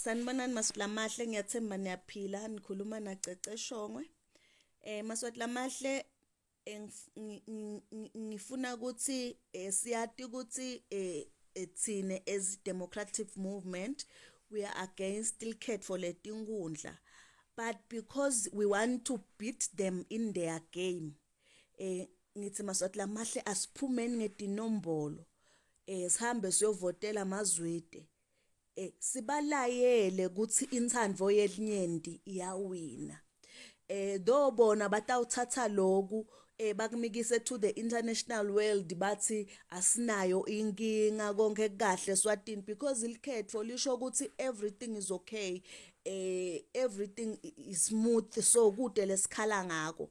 Sanibonani Masilamahle ngiyathemba niyaphila nikhuluma na Cece Shongwe eh Maswatilamahle eh, ngifuna ukuthi eh, siyati ukuthi eh, eh thina as democratic movement we are against ikhetho letinkundla but because we want to beat them in their game eh ngithi maswati lamahle asiphumeni ngedinombolo eh sihambe siyovotela amazwide eh sibalayele ukuthi inthandvo yelinyenti iyawina eh do bona batawuthatha loku eh bakumikise to the international world bathi asinayo inkinga konke kahle swatini because ilikhetho lisho ukuthi everything is okay eh everything is smooth so kude lesikhala ngako